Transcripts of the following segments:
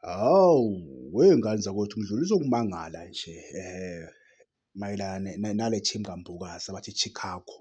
Hawu wey'ngane zakwethu ngidlulisa ukumangala nje mayelana nale team kaMbokazi abathi i-Chicago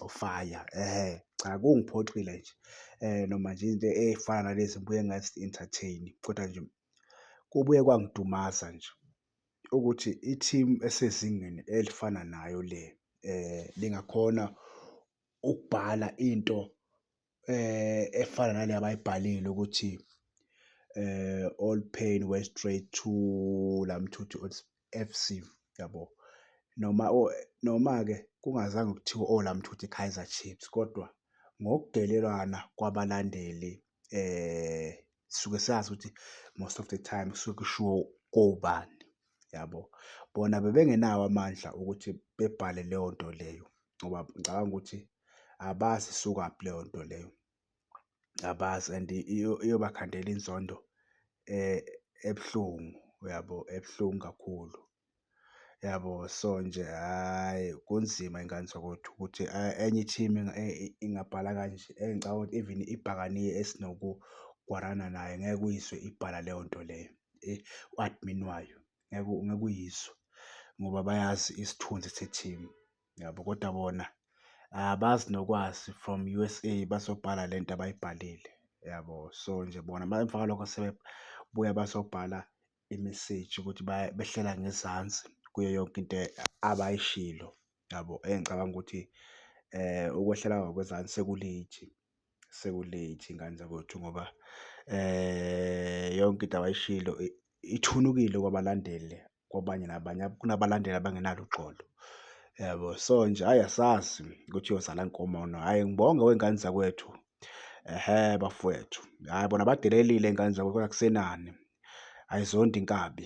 of Fire cha kungiphoxile nje noma nje into ey'fana nalezi ngibuye ngazi-entertain kodwa nje kubuye kwangidumaza nje ukuthi i-team esezingeni elifana nayo le lingakhona ukubhala into efana nale abayibhalile ukuthi eh all pain went straight to Lamthuthi FC yabo noma noma ke kungazange kuthiwe o Lamthuthi Kaizer Chiefs kodwa ngokudelelwana kwabalandeli eh sisuke sazi ukuthi most of the time kusuke kushiwo kobani yabo bona bebengenawo amandla ukuthi bebhale leyo nto leyo. ngoba ngicabanga ukuthi abazi isukaphi leyo nto leyo. Abazi and iyobakhandela inzondo ebuhlungu, uyabo? Ebuhlungu kakhulu, uyabo? So nje hhayi kunzima y'ngane zakwethu ukuthi enye i-team ingabhala kanje. Eyi ngicabanga ukuthi even ibhakane esinoku-war-ana nayo ngeke uyizwe ibhala leyo nto leyo u-admin wayo. ngeke ngeke uyizwe ngoba bayazi isithunzi se-team yabo kodwa bona abazi nokwazi from U_S_A bazobhala le nto abayibhalile yabo. So nje bona uma emva kwalokho sebebuya bazobhala imeseji ukuthi behlela ngezansi kuyo yonke into abayishilo yabo. Engicabanga ukuthi ukwehlela ngakwezansi seku-late. seku-late ngane zakwethu ngoba yonke into abayishilo ithunukile kwabalandeli kwabanye nabanye kunabalandeli abangenalo uxolo yabo. So nje hhayi asazi ukuthi uyozala nkomo or no. Hhayi ngibonge wey'ngane zakwethu hhe bafwethu. Hhayi bona badelelile iy'ngane zakwethu kodwa akusenani ayizondi inkabi.